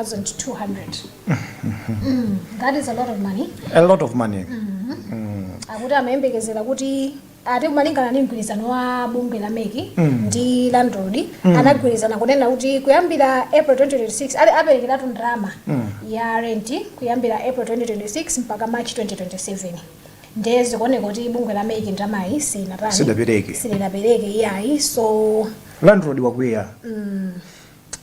885,931,200 that is a lot of money a lot of money akuti amayembekezera kuti ati malingana ndi mgwirizano wa bungwe la MEC ndi landlord anagwirizana kunena kuti kuyambira april 2026 ali aperekeratu ndalama ya rent kuyambira april 2026 mpaka march 2027 nde zikuoneka kuti bungwe la MEC ndalamayi sinatani Sidapereke. silinapereke iyayi so Landlord wakwiya.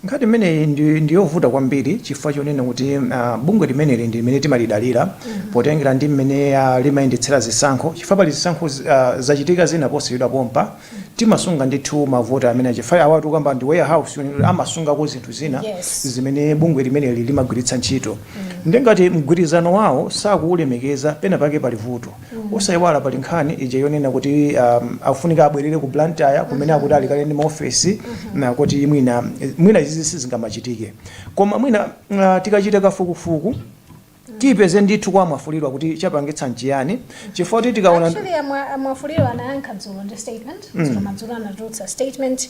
Nkhani imeneyi ndi, ndi yovuta kwambiri chifukwa chonena kuti uh, bungwe limeneli ndi limene timalidalira potengera ndi mmene uh, limayendetsera zisankho chifukwa pali zisankho zi- uh, zachitika zina posachedwa pompa timasunga ndithu mavoti amene chifukwa apatu ukukamba ndi warehouse yonena kuti amasungako zinthu zina Yes. zimene bungwe limeneli limagwiritsa ntchito nde ngati mgwirizano wawo sakuulemekeza pena pake pali vuto Osaiwala pali nkhani ija yonena kuti um, akufunika abwerere ku Blantyre kumene akuti ali kale ndi maofesi nkuti mwina mwina izizi sizikanamachitika koma mwina uh, tikachita kafukufuku tipeze ndithu kwa a Mwafulirwa kuti chapangitsa nchiyani chifukwa kuti tikaona Actually, amwa- a Mwafulirwa anayankha dzulo ndi statement dzulo madzulo anatulutsa statement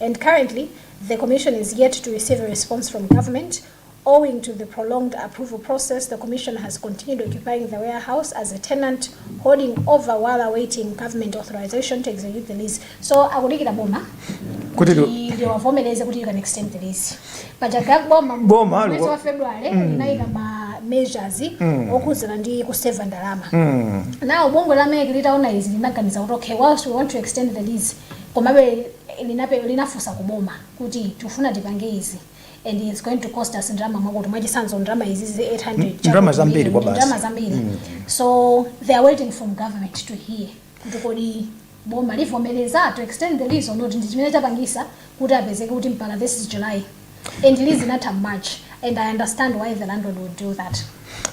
and currently the Commission is yet to receive a response from government owing to the prolonged approval process, the Commission has continued occupying the warehouse as a tenant holding over while awaiting government authorization to execute the lease. So akudikira boma kuti tu- kuti ndiwavomereze kuti you can extend the lease. But agaga boma Boma, mwezi alikuwa- wa February linayika ma measures okhudzana ndi kuseva ndalama. Now bungwe la MEC litaona izi linaganiza kuti okay whilst we want to extend the lease komabe linape- linafunsa ku boma kuti tikufuna tipange izi and it's going to cost us ndalama mwakuti mwachisanzo ndalama izi zi 800 chakuti ndalama zambiri million, kwa basi. ndalama zambiri so they are waiting from government to hear kuti kodi boma livomereza to extend the lease or not ndi chimene chapangitsa kuti apezeke kuti mpaka this is july and lease inatha march and i understand why the landlord would do that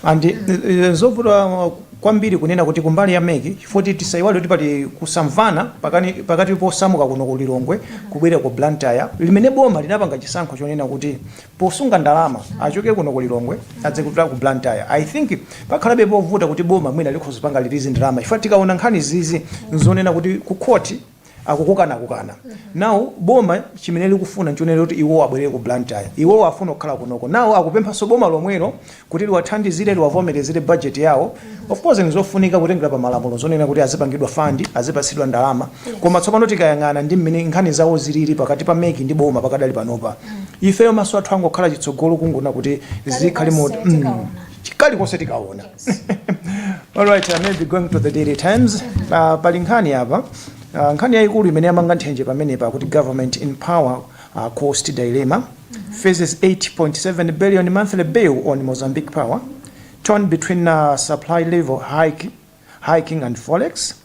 and eh, eh, zovuta uh, kwambiri kunena kuti kumbali ya MEC chifukwa choti tisaiwale kuti pali kusamvana pakani- pakati posamuka kuno ku lilongwe kubwerera ku blantyre limene boma linapanga chisankho chonena kuti posunga ndalama achoke kuno ku lilongwe adzipita ku blantyre i think pakhalabe povuta kuti boma mwina likhoza kupanga release ndalama chifukwa tikaona nkhani zizi nzonena kuti ku khoti akukukanakukana now boma chimene likufuna nchonena kuti iwowo abwerere ku blantyre iwowo afuna kukhala kunoko now akupemphanso boma lomwelo kuti liwathandizire liwavomerezere budget yawo of course ndizofunika kutengera pa malamulo zonena kuti azipangidwa fund azipatsidwa ndalama koma tsopano tikayang'ana ndi mmene nkhani zawo zilili pakati pa MEC ndi boma pakadali panopa ifeyo maso athu angokhala chitsogolo kungoona kuti zikhale moti kalikonse tikaona All right, I may be going to the Daily Times. Uh, pali nkhani apa uh, nkhani yayikulu imene yamanga nthenje pamenepa kuti government in power uh, cost dilemma faces 8.7 billion monthly bill on Mozambique power torn between uh, supply level hike, hiking and forex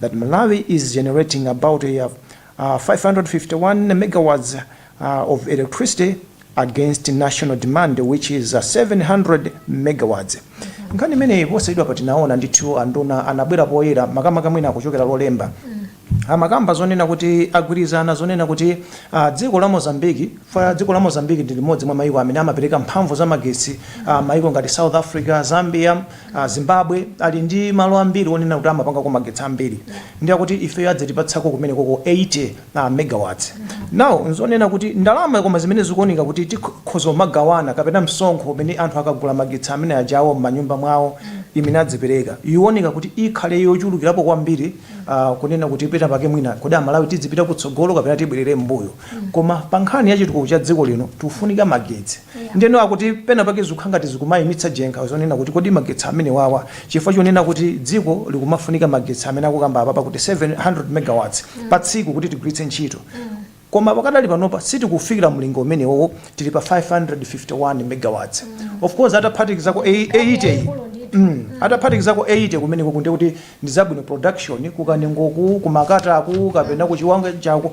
that Malawi is generating about 551 megawatts of electricity against national demand which is 700 megawatts nkhani imeneyi posachedwapa tinaona ndithu anduna anabwera poyera makamaka mwina kuchokera lolemba amakamba zonena kuti agwirizana zonena kuti ah, dziko la Mozambique chifukwa dziko la Mozambique ndi limodzi mwa maiko amene amapereka mphamvu za magetsi ah, maiko ngati south africa zambia Azimbabwe ali ndi malo ambiri onena kuti amapangako magetsi ambiri ndi akuti ifeyo adzatipatsako kumenekoko 80 megawatts. Now nzonena kuti ndalama koma zimene zikuoneka kuti tikhoza kumagawana kapena msonkho umene anthu akagula magetsi amene aja awo m'manyumba mwawo imene adzipereka ioneka kuti ikhale yochulukirapo kwambiri kunena kuti penapake mwina kodi Malawi tidzipita kutsogolo kapena tibwerere mmbuyo koma pankhani ya chitukuko cha dziko lino tikufunika magetsi. Ndiye akuti pena pake zikukhala ngati zikumayimitsa jenkha zonena kuti kodi magetsi amenewawa chifukwa chonena kuti dziko likumafunika magetsi amene akukambapa pa kuti 700 megawatts pa tsiku kuti tigwiritse ntchito koma pakadali panopa sitikufikira mlingo umenewowo tili pa 551 megawatts of course ataphatikizako e- 80 iyi Mm. ataphatikizako 80 kumeneko kunena kuti ndizabwino production kukanengoku kumakataku kapena kuchiwanga chaku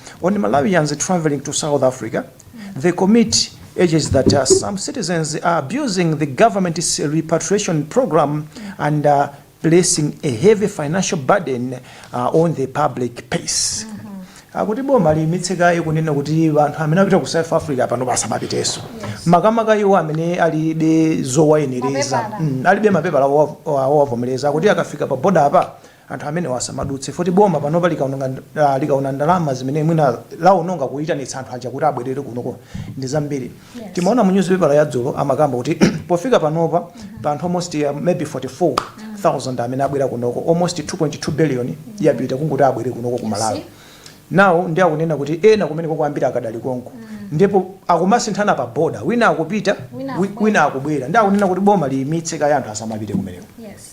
On Malawians travelling to South Africa, the committee urges that uh, some citizens are abusing the government's repatriation program and uh, placing a heavy financial burden uh, on the public purse. akuti boma liyimitse kaye kunena kuti anthu amene apita ku south africa panopa asamapiteso makamaka iwo amene alibe zowayenereza Mapepala. Mm, alibe mapepala owa- owa- owavomereza akuti akafika pa boda apa anthu amenewa asamadutse poti boma panopa likaononga ah, likaona ndalama zimene mwina laononga kuitanitsa anthu aja kuti abwerere kunoko ndi zambiri timaona mu newspaper ya dzulo amakamba kuti pofika panopa pa anthu almost uh, maybe 44000 amene abwera kunoko almost 2.2 billion yapita kungoti abwere kunoko ku malawi now ndi akunena kuti ena kumeneko ambiri akadali konko ndipo akumasinthana pa boda wina akupita Wina wi- akubwera. wina akubwera ndi akunena kuti boma liyimitse kaye anthu asamapite kumeneko Yes.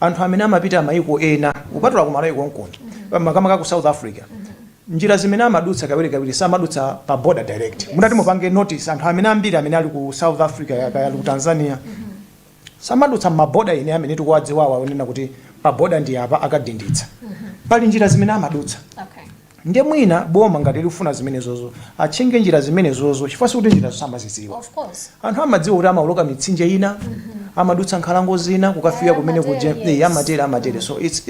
Anthu amene amapita maiko ena kupatula ku Malawi konkuno makamaka ku South Africa njira zimene amadutsa kawirikawiri samadutsa pa border direct. Mutati mupange notice anthu amene ambiri amene ali ku South Africa ya kaya ali ku Tanzania samadutsa mma border ena amene tikuwadziwawa onena kuti pa border ndi apa akadinditsa. Pali njira zimene amadutsa. Okay. Nde mwina boma ngati likufuna zimenezozo atchinge njira zimenezozo chifukwa sikuti njirazo samazidziwa. Anthu amadziwa kuti amawoloka mitsinje ina, mm -hmm. amadutsa nkhalango zina kukafika kumene kuja yes. Eh, amatere amatere so it's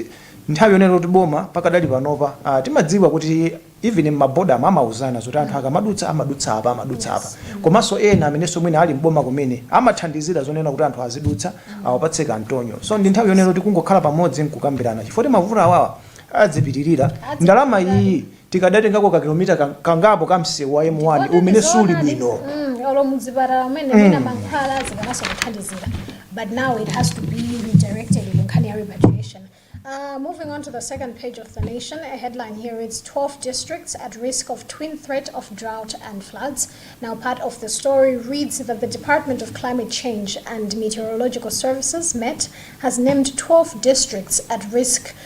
nthawi yonena kuti boma pakadali panopa uh, timadziwa kuti even mmaboda amauzana zoti anthu akamadutsa amadutsa apa amadutsa apa komanso ena amenenso mwina ali mboma kumene amathandizira zonena kuti anthu azidutsa awapatse kantontho so ndi nthawi yonena kuti kungokhala pamodzi nkukambirana chifukwa mavuto awawa Adzipitirira, ndalama iyi tikadatengako ka kilomita kangapo ka msewu wa M1 umene suli bwino. mm, olo muzipatala umene mwina mankhwala zikanaso kuthandizira but now it has to be redirected ku nkhani ya repatriation Uh, moving on to the second page of the nation, a headline here reads 12 districts at risk of twin threat of drought and floods. Now, part of the story reads that the Department of Climate Change and Meteorological Services, MET, has named 12 districts at risk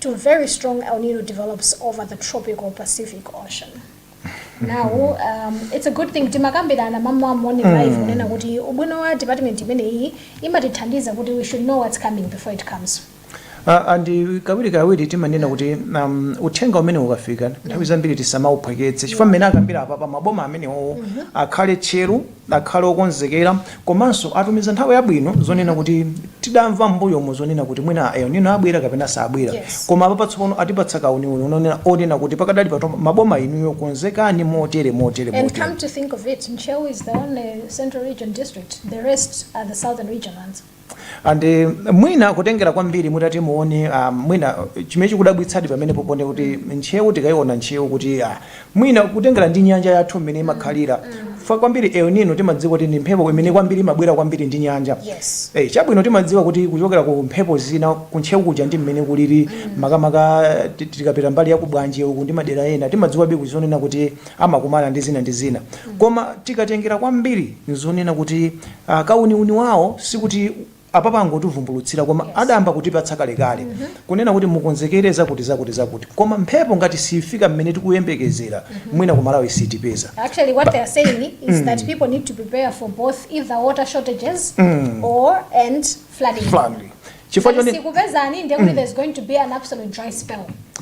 to very strong El Nino develops over the tropical Pacific Ocean. Now, um, it's a good thing timakambirana mama morning live kunena kuti ubwino wa department imeneyi imatithandiza kuti we should know what's coming before it comes. Ah, and kawiri kawiri timanena kuti um, uthenga umene ukafika nthawi zambiri tisamauphweketse chifukwa mmene akambira apapa maboma amenewo akhale tcheru akhale okonzekera komanso atumiza nthawi yabwino zonena kuti tidamva m'mbuyomo zonena kuti mwina a El Nino abwera kapena sabwera Yes. koma apapa tsopano atipatsa kauniuni onena kuti pakadali pato maboma inuyo konzekani motere motere And motere come to think of it, Ntcheu is the only central region district. The rest are the southern region ones. and uh, mwina kutengera kwambiri mutati muone uh, mwina chimene chikudabwitsadi pamenepo ponena kuti ntcheu tikaiona ntcheu kuti uh, mwina kutengera ndi nyanja yathu mmene imakhalira chifukwa kwambiri El Nino timadziwa kuti ndi mphepo imene kwambiri imabwera kwambiri ndi nyanja Yes. Eh, chabwino timadziwa kuti kuchokera ku mphepo zina ku Ntcheu kuja ndi mmene kulili makamaka ti- tikapita mbali ya ku Bwanje uku ndi madera ena timadziwabe zonena kuti amakumana ndi zina ndi zina koma tikatengera kwambiri nzonena kuti uh, kauniuni wawo sikuti apapa angotivumbulutsira koma yes. adayamba kutipatsa kalekale mm -hmm. kunena kuti mukonzekere zakuti zakuti zakuti koma mphepo ngati siifika mmene tikuyembekezera mm -hmm. mwina ku Malawi sitipeza actually what they are saying is mm. that people need to prepare for both either water shortages mm. or and flooding, flooding. chifukwa Ngati siikupezani ndiye kuti there's going to be an absolute dry spell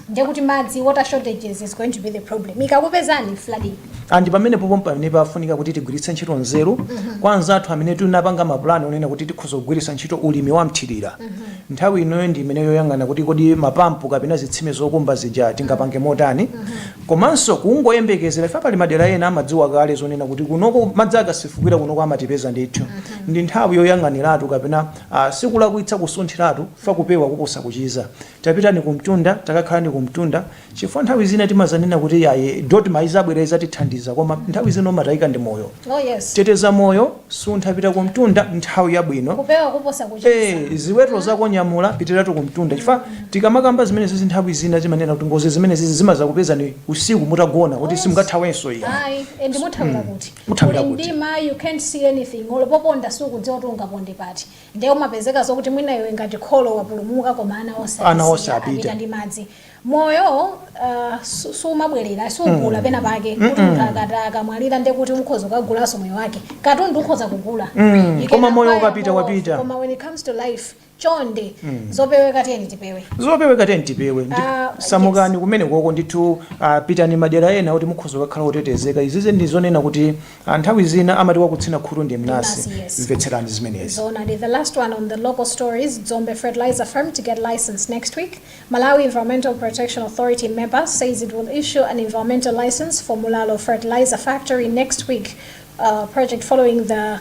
ndiye kuti madzi water shortages is going to be the problem ikakupezani flooding and pamenepopo mpamene pafunika kuti tigwiritse ntchito nzeru kwa anzathu amene tinapanga mapulani onena kuti tikhoza kugwiritsa ntchito ulimi wa mthirira nthawi inoyo ndi imene yoyang'ana kuti kodi mapampu kapena zitsime zokumba zija tingapange motani komanso kungoyembekezera ife pali madera ena amadziwa kale zonena kuti kunoko madzi akasefukira kunoko amatipeza ndithu ndi nthawi yoyang'aniratu kapena a. Sikulakwitsa kusunthiratu chifukwa kupewa kuposa kuchiza. Tapitani kumtunda, takakhalani kumtunda chifukwa nthawi zina timazanena kuti iyayi DoDMA izabwera izatithandiza koma nthawi zina umatayika ndi moyo. Teteza moyo, suntha pita kumtunda nthawi yabwino. e. Ziweto zako nyamula pitiratu kumtunda chifukwa tikamakamba zimenezezi nthawi zina timanena kuti ngozi zimenezizi zimazakupezani usiku mutagona kuti simungathawenso iyayi. Kuthawira kuti? Kuli mdima you can't see anything olo poponda sukudziwa kuti ungaponde pati nde umapezeka zokuti mwina iwe ngati kholo wapulumuka koma ana onse Ana onse atisiya, apita. apita ndi madzi moyo su- sumabwerera sugula pena pake kuti munthu akati akamwalira nde kuti ukhoza kukagulanso moyo wake katundu ukhoza kugula You can koma moyo acquire ukapita more of- wapita. koma when it comes to life chonde zopeweka tiyeni tipewe zopeweka tiyeni tipewe ndi Ah, samukani kumene koko ndithu ah, pitani madera ena kuti mukhoza kukhala otetezeka izizi ndi zonena kuti ah, nthawi zina amati wakutsina khutu ndi mnasi Mnasi, yes. mvetserani zimenezi Zona, the last one on the local stories, Dzombe Fertilizer Firm to get licensed next week. Malawi Environmental Protection Authority MEPA says it will issue an environmental license for Mulalo Fertilizer Factory next week. Uh, project following the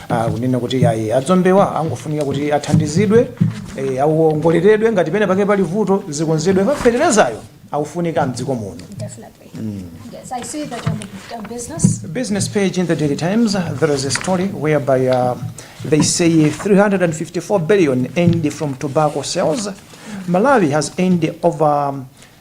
kunena kuti ayi adzombewa angofunika kuti athandizidwe eh, awongoleredwe ngati pena pake pali vuto zikonzedwe feterezayo akufunika mdziko muno Definitely. Yes, I see that on the on business. business page in the Daily Times, uh, there is a story whereby uh, they say 354 billion earned from tobacco sales. Malawi has earned over um,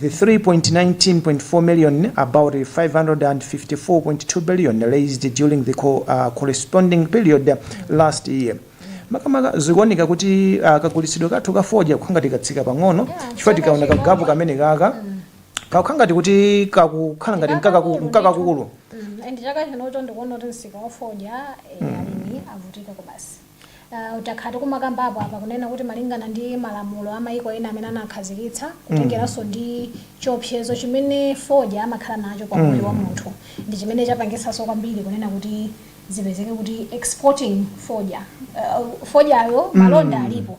the 319.4 million, about 554.2 billion, raised during the corresponding period last year makamaka zikuoneka kuti ah, kagulitsidwe kathu ka fodya kakukhala ngati katsika pang'ono chifukwa tikaona kagapu kamene kaka kakukhala ngati kuti kakukhala ngati nkakaku- nkakakulu Mm, and chaka chinocho ndikuona kuti msika wa fodya eh, alimi avutika kwabasi Uh, takhala tikumakambapo apa kunena kuti malingana ndi malamulo a maiko ena amene anakhazikitsa mm. kutengeranso ndi chiopsezo chimene fodya amakhala nacho kwa moyo mm. wa munthu ndi chimene chapangisanso kwambiri kunena kuti zipezeke kuti exporting fodya uh, fodyayo mm. malonda mm. alipo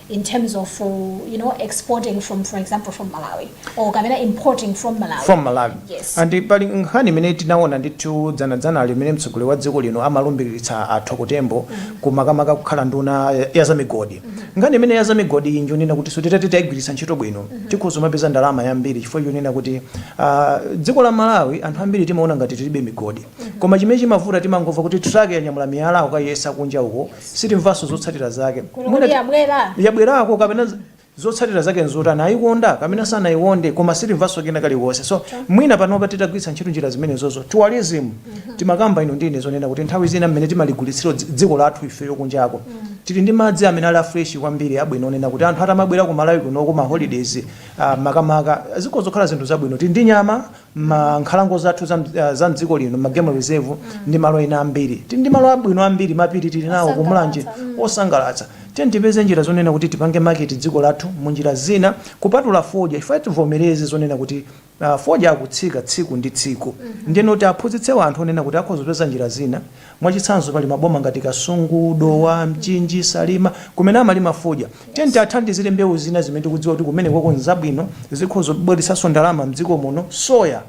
in terms of uh, you know exporting from for example from malawi or kapena importing from malawi from malawi yes and pali nkhani imene tinaona ndithu dzana limene mtsogoleri wa dziko lino amalumbiritsa a Thoko Tembo mm -hmm. kumakamaka kukhala nduna ya za migodi mm -hmm. nkhani imene ya za migodi iyi njonena kuti so titati tayigwiritsa ntchito bwino mm -hmm. tikhoza umapeza ndalama yambiri chifukwa chonena kuti uh, dziko la malawi anthu ambiri timaona ngati tilibe migodi mm -hmm. koma chimene chimavuta timangomva kuti truck yanyamula miyala kukayiyesa kunja uko yes. sitimvanso zotsatira zake Kuno Mwina kuti ti- yabwera. yabwerako kapena z- zotsatira zake nzotani ayikonda kapena sanayikonde koma sitimvanso kena kaliwonse so mwina panopa titagwiritsa ntchito njira zimenezozo tourism timakamba ino ndine zonena kuti nthawi zina mmene timaligulitsira dzi- dziko lathu ifeyo kunjako tili ndi madzi amene ali afresh kwambiri abwino onena kuti anthu atamabwera ku malawi kuno kuma holidays ah, makamaka zikhoza kukhala zinthu zabwino tili ndi nyama M'nkhalango zathu za m'dz- ah, za m'dziko lino ma game reserve ndi malo ena ambiri tili ndi malo abwino ambiri mapiri tili nawo ku Mulanje osangalatsa tiyeni tipeze njira zonena kuti tipange market dziko lathu mu njira zina kupatula fodya chifukwa tivomereze zonena kuti ah, fodya akutsika tsiku ndi tsiku ndiyeno kuti aphunzitse anthu onena kuti akhoza kupeza njira zina Mwachitsanzo pali maboma ngati Kasungu, Dowa, Mchinji, Salima kumene amalima fodya. Tiyeni tiathandizire mbewu zina zimene tikudziwa kuti kumenekoko n'zabwino, zikhoza kubweretsanso ndalama m'dziko muno. Soya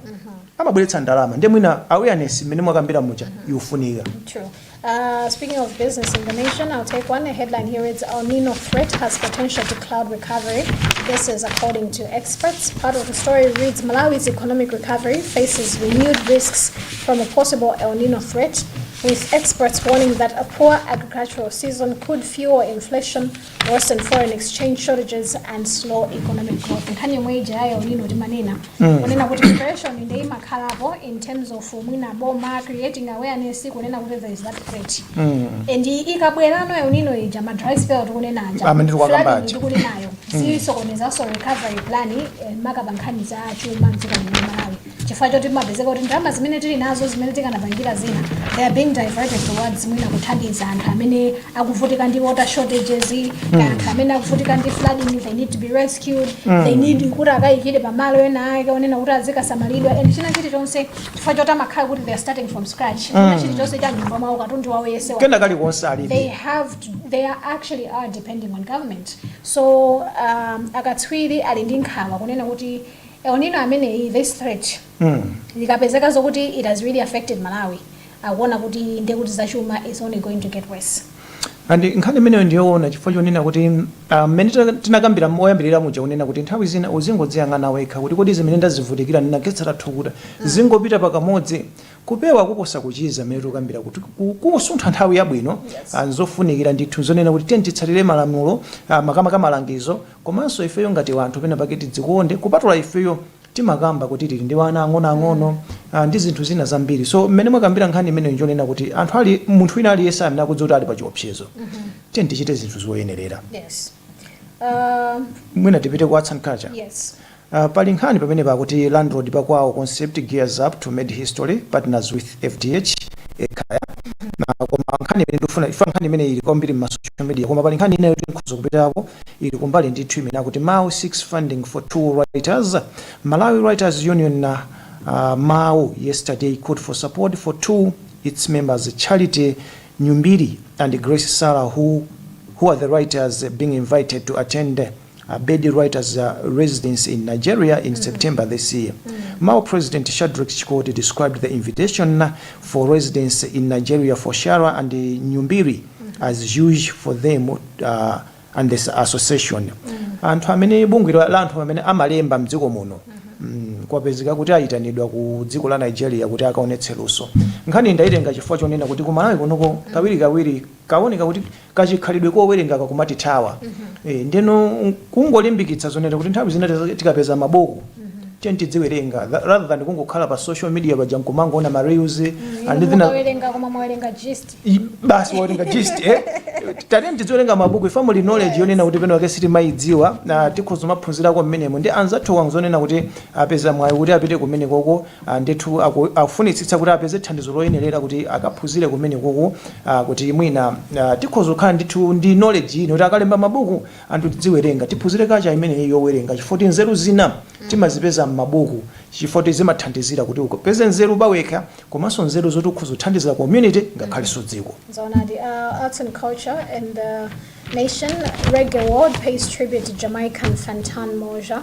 amabweretsa ndalama ndiye mwina awareness mmene mwakambira muja ikufunika. True. Uh, speaking of business in the nation, I'll take one. A headline here reads El Nino threat has potential to cloud recovery. This is according to experts. Part of the story reads Malawi's economic recovery faces renewed risks from a possible El Nino threat, with experts warning that a poor agricultural season could fuel inflation, worsen foreign exchange shortages, and slow economic growth. Nkhani yomwe ija ya El Nino timanena kunena kuti preparation ndi imakhalapo in terms of mwina boma creating awareness kunena kuti there is that threat and ikabwerano El Nino ija ma dry spell tikunena aja, flooding tikunenayo sisokonezanso recovery plan eh, maka pa nkhani za chuma mdziko lino la Malawi chifukwa choti timapezeka kuti ndalama zimene tili nazo zimene tikanapangira zina they are being diverted towards mwina kuthandiza anthu amene akuvutika ndi water shortages mm. anthu amene akuvutika ndi flooding they need to be rescued mm. they need kuti akayikire pamalo ena ake onena kuti azikasamalidwa and china chilichonse chifukwa choti amakhala kuti they are starting from scratch china mm. chilichonse cha m'nyumba mwawo katundu wawo yese kena kalikonse alibe they have to, they are actually are depending on government so um, akatswiri ali ndi nkhawa kunena kuti El Nino ameneyi this threat ikapezeka zokuti it has really affected Malawi akuona kuti ndiye kuti zachuma is only going to get worse. and nkhani imeneyo ndiyoona chifukwa chonena kuti ah, mmene tina- tinakambira oyambirira muja kunena kuti nthawi zina uzingodziyang'ana wekha kuti kodi zimene ndazivutikira ndinakhetsa thukuta zingopita pakamodzi kupewa kuposa kuchiza mmene tikukambira kuti ku- kusuntha nthawi yabwino ah, nzofunikira ndithu zonena kuti tiyeni titsatire malamulo ah, makamaka malangizo Komanso ifeyo ngati wanthu penapake tidzikonde kupatula ifeyo timakamba kuti tili ndi wana ang'onoang'ono ah, ndi zinthu zina zambiri so mmene mwakambira nkhani imeneyo njonena kuti anthu ali munthu wina aliyense amene akudziwa kuti ali pa chiopsezo tiyeni tichite zinthu zoyenerera Yes. Uh, mwina tipite ku arts and culture yes. Aaa pali nkhani pamenepa akuti Landlord Pakwawo concept gears up to made history partners with FDH Ekhaya aah koma nkhani imene ndikufuna chifukwa nkhani imeneyi ili kwambiri mma social media koma pali nkhani ina yoti tikhoza kupitako ili kumbali ndithu imene akuti MAWU seeks funding for two writers Malawi Writers Union aah MAWU yesterday called for support for two of its members Charity Nyumbiri and Grace Sharra who who are the writers being invited to attend Ebedi Writers Residence in Nigeria in September this year. MAWU President Shadreck Chikoti described the invitation for residence in Nigeria for Shara and Nyumbiri as huge for them uh, and the association. Anthu amene bungwe la la anthu amene amalemba mdziko muno mm, kwapezeka kuti ayitanidwa ku dziko la Nigeria kuti akaonetse luso. Nkhani ndayitenga chifukwa chonena kuti ku Malawi kunoko kawirikawiri Kawoneka kuti kachikhalidwe kowerenga kakumatithawa eeh ndeno kungolimbikitsa zonena kuti nthawi zina tikapeza mabuku tiyeni tidziwerenga rather than kungokhala pa social media paja nkumangowona ma reels and then mukawerenga koma mwawerenga gist basi wawerenga gist eh tatiyeni tidziwerenga mabuku chifukwa muli knowledge yonena kuti pena pake sitimayidziwa na tikhoza kumaphunzirako mmenemo ndi anzathuwa zonena kuti apeza mwayi kuti apite kumenekoko a Ndithu akufunitsitsa kuti apeze thandizo loyenerera kuti akaphunzire kumenekoko a kuti mwina a tikhoza kukhala ndithu ndi knowledge ina yoti akalemba mabuku anthu tidziwerenga, tiphunzire culture imeneyi yowerenga chifukwa kuti nzeru zina timazipeza m'mabuku chifukwa kuti zimathandizira kuti upeze nzeru pawekha komanso nzeru zoti ukhoza kuthandizira community ngakhalenso dziko. Zoonadi, a Arts and Culture and the Nation, Reggae World pays tribute to Jamaican Fantan Mojah.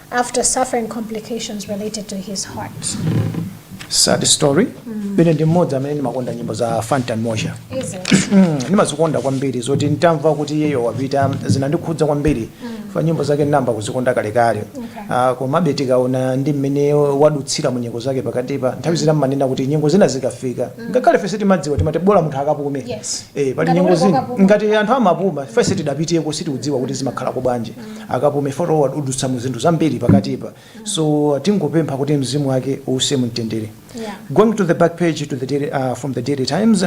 after suffering complications related to his heart. sad story paine ndi mmodzi amene ndimakonda nyimbo za Fantan Mojah Is it? Mm, ndimazikonda kwambiri zoti ntamva kuti iyeyo wapita zinandikhudza kwambiri fa nyimbo zake ndinayamba kuzikonda kalekale Okay. Ah, komabe tikaona ndi mmene wadutsira mu nyengo zake pakatipa nthawi zina mmanena kuti nyengo zina zikafika ngakhale fese timadziwa timati bola munthu akapume Yes. Eh, pali Ngati nyengo uli zina kokapume. ngati anthu amapuma fese tidapitiyeko sitikudziwa kuti zimakhalako bwanji Akapume foto wadudutsamo zinthu zambiri pakatipa so tingopempha kuti mzimu wake uuse mumtendere Yeah. going to the back page to the daily, uh, from the daily times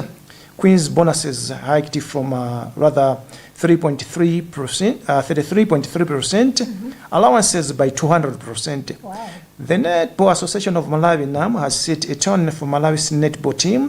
queens bonuses hiked from uh, rather 3.3 percent uh, 33.3 percent allowances by 200 percent Wow. the netball association of malawi nam has set a tone for malawi's netball team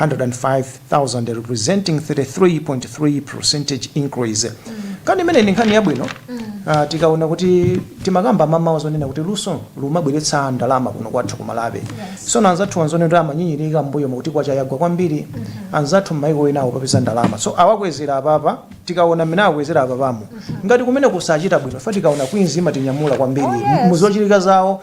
105,000 representing 33.3 percentage increase kani imeneyi ndi nkhani yabwino Ah, tikaona kuti timakamba mamawa zonena kuti luso lumabweretsa ndalama kuno kwathu ku Malawi so na anzathu anzone kuti amanyinyirika mbuyo mukuti kwacha yagwa kwambiri anzathu mmaiko enawo akupeza ndalama so awakwezera apapa tikaona mmene awakwezera apapamo ngati kumene zikuchita bwino fa tikaona Queens imatinyamula kwambiri Oh, yes. muzochitika zawo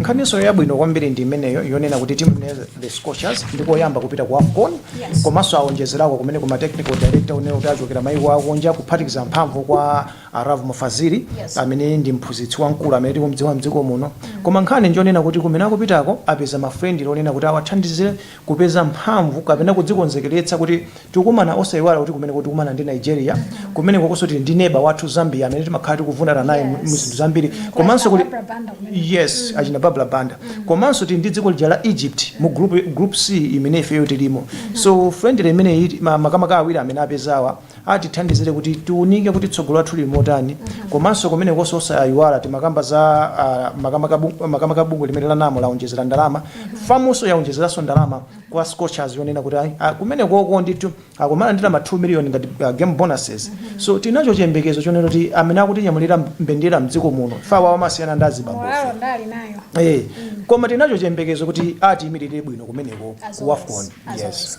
nkhaninso yabwino kwambiri ndi imeneyo yonena kuti timu ya the scorchers ndikoyamba kupita ku afcon Yes. komanso awonjezerako kumene kuma technical director onena kuti achokera maiko akunja kuphatikiza mphamvu kwa a Lovemore Fazili Yes. amene ndi mphunzitsi wamkulu amene tikumdziwa mdziko muno koma nkhani njonena kuti kumene akupitako apeza ma friendly onena kuti awathandizire kupeza mphamvu kapena kudzikonzekeretsa kuti tikumana osaiwala kuti kumeneko tikumana ndi nigeria kumenekokonso tili ndi neba wathu zambia amene timakhala tikuvundana naye mu- mu zinthu zambiri komanso kuli yes achina Barbra Banda komanso tili ndi dziko lija la egypt mu group, group c imene ifeyo tilimo so friendly imeneyi ma- makamaka awiri amene apezawa atithandizire kuti tiunike kuti tsogolo lathu lili motani komanso kumenekonso osayiwala timakamba za ah, makamaka bu- makamaka bungwe limene la NAM laonjezera ndalama FAMnso yaonjezeranso ndalama kwa scorchers yonena kuti ayi, ah, kumenekoko ndithu akumalandira ma 2 million ngati ah, game bonuses so tinacho chiyembekezo chonena kuti amene akutinyamulira mbendera mdziko muno ifa awa amasiyana ndi azibambo Moralo ndili nayo. Eh, koma tinacho chiyembekezo kuti atiyimirire bwino kumeneko As ku always, wafcon as yes always.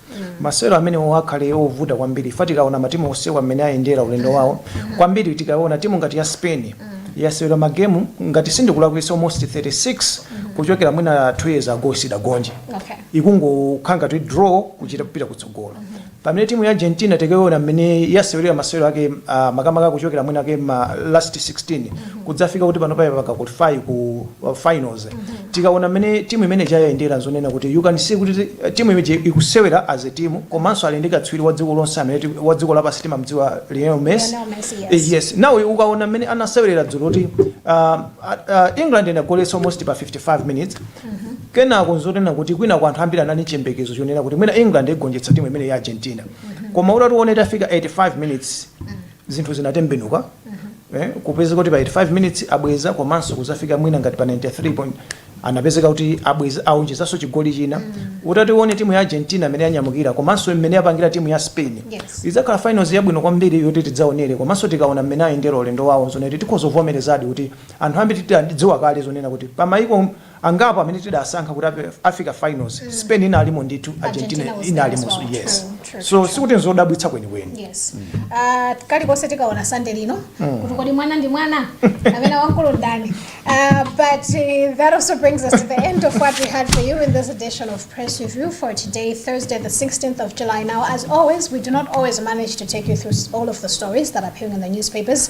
masewero amenewo akhale ovuta kwambiri ifa tikaona matimu onsewa mmene ayendera ulendo wawo kwambiri tikaona timu ngati ya spain yasewera magemu ngati sindikulakwisa almost 36 kuchokera mwina 2 years ago sidagonje Okay. ikungokhala ndi draw kuchita kupita kutsogolo pamene timu ya argentina tikaona mmene yasewerera masewero ake uh, makamaka kuchokera mwina mwake ma last 16 kudzafika kuti pano payi mpaka qualify ku uh, finals tikaona mmene timu imene yayendera zonena kuti you can see kuti ti- timu imene ikusewera as a team komanso ali ndi katswiri wa dziko lonse amene ti- wa dziko lapansi timamdziwa Lionel Messi Lionel Messi, yes. Eh, yes now ukaona mmene anasewerera dzulo kuti uh, uh, England inagoletsa almost pa 55 minutes kenako nzonena kuti kwina kwa anthu ambiri anali nchiyembekezo chonena kuti mwina England igonjetsa timu imene ya Argentina koma utatione itafika 85 minutes zinthu zinatembenuka eh, kupezeka kuti pa 85 minutes abweza komanso kuzafika mwina ngati pa 93 point anapezeka kuti abweza aonjezanso chigoli china utati uone timu ya argentina mmene yanyamukira komanso mmene yapangira timu ya spain Yes. idzakhala finals yabwino kwambiri yoti tidzaonere komanso tikaona mmene ayendera ulendo wawo zonena kuti tikhoza kuvomerezadi kuti anthu ambiri tidziwa kale zonena kuti pamayiko angapo amene tidasankha kuti afika finals spain inalimo ndithu argentina inalimonso yes so sikuti nzodabwitsa kwenikweni yes uh, kalikonse tikaona sande lino mm. kuti kodi mwana ndi mwana nanga wamkulu ndani uh, but uh, that also brings us to the end of what we had for you in this edition of press review for today thursday the 16th of july now as always we do not always manage to take you through all of the stories that are appearing in the newspapers